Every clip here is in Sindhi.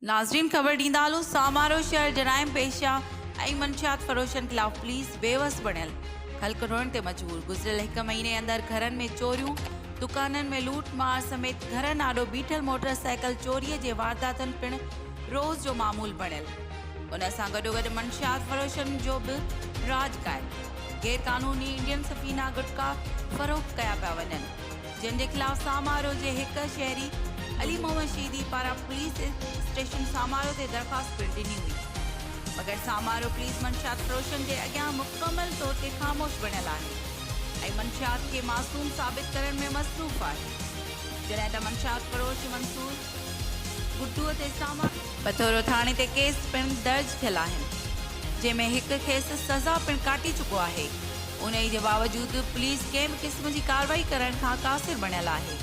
ناظرين خبر ڏيندا هلون سامارو شهر جرائم پيشه ۽ منشيات فروشن خلاف پوليس بيوس بڻيل خلق روئڻ تي مجبور گذريل هڪ مهيني اندر گهرن ۾ چوريون دڪانن ۾ لوٽ مار سميت گهرن آڏو بيٺل موٽر سائيڪل چوري جي وارداتن پڻ روز جو معمول بڻيل ان سان گڏوگڏ منشيات فروشن جو به راڄ قائم، غير قانوني انڊين سفينا گٽڪا فروخت ڪيا پيا وڃن جن جي خلاف سامارو جي هڪ شهري علي محمد شيدي پاران پوليس اسٽيشن سامارو تي درخواست پڻ ڏني هئي مگر سامارو پوليس منشيات فروشن جي اڳيان مڪمل طور تي خاموش بڻيل آهي ۽ منشيات کي معصوم ثابت ڪرڻ ۾ مصروف آهي جڏهن ته منشيات فروش منصور گڊوء تي سامان. پٿورو ٿاڻي تي ڪيس پڻ درج ٿيل آهن جنهن ۾ هڪ کيس سزا پڻ ڪاٽي چڪو آهي انهي جي باوجود پوليس ڪنهن به قسم جي ڪارروائي ڪرڻ کان قاصر بڻيل آهي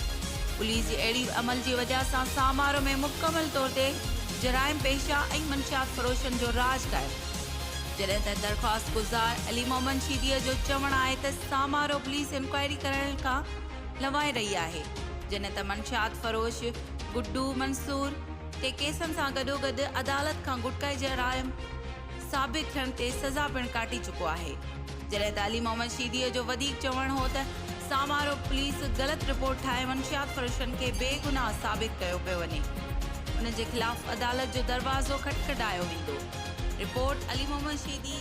پوليس جي اهڙي عمل جي وجه سان سامارو ۾ مڪمل طور تي جرائم پيشه ۽ منشيات فروشن جو راڄ قائم جڏهن ته درخواست گذار علي محمد شيدي جو چوڻ آهي ته سامارو پوليس انڪوائري ڪرڻ کان لوائي رهي آهي، جڏهن ته منشيات فروش گڊو منصور کي ڪيسن سان گڏوگڏ عدالت کان گٽڪائي جرائم ثابت ٿيڻ تي سزا پڻ ڪاٽي چڪو آهي، جڏهن ته علي محمد شيديء جو وڌيڪ چوڻ هو ته سامارو پوليس غلط رپورٽ ٺاهي منشيات فروشن کي بيگناهه ثابت ڪيو پيو وڃي، انهن جي خلاف عدالت جو دروازو کٽکٽايو ويندو، رپورٽ، علي محمد شيدي.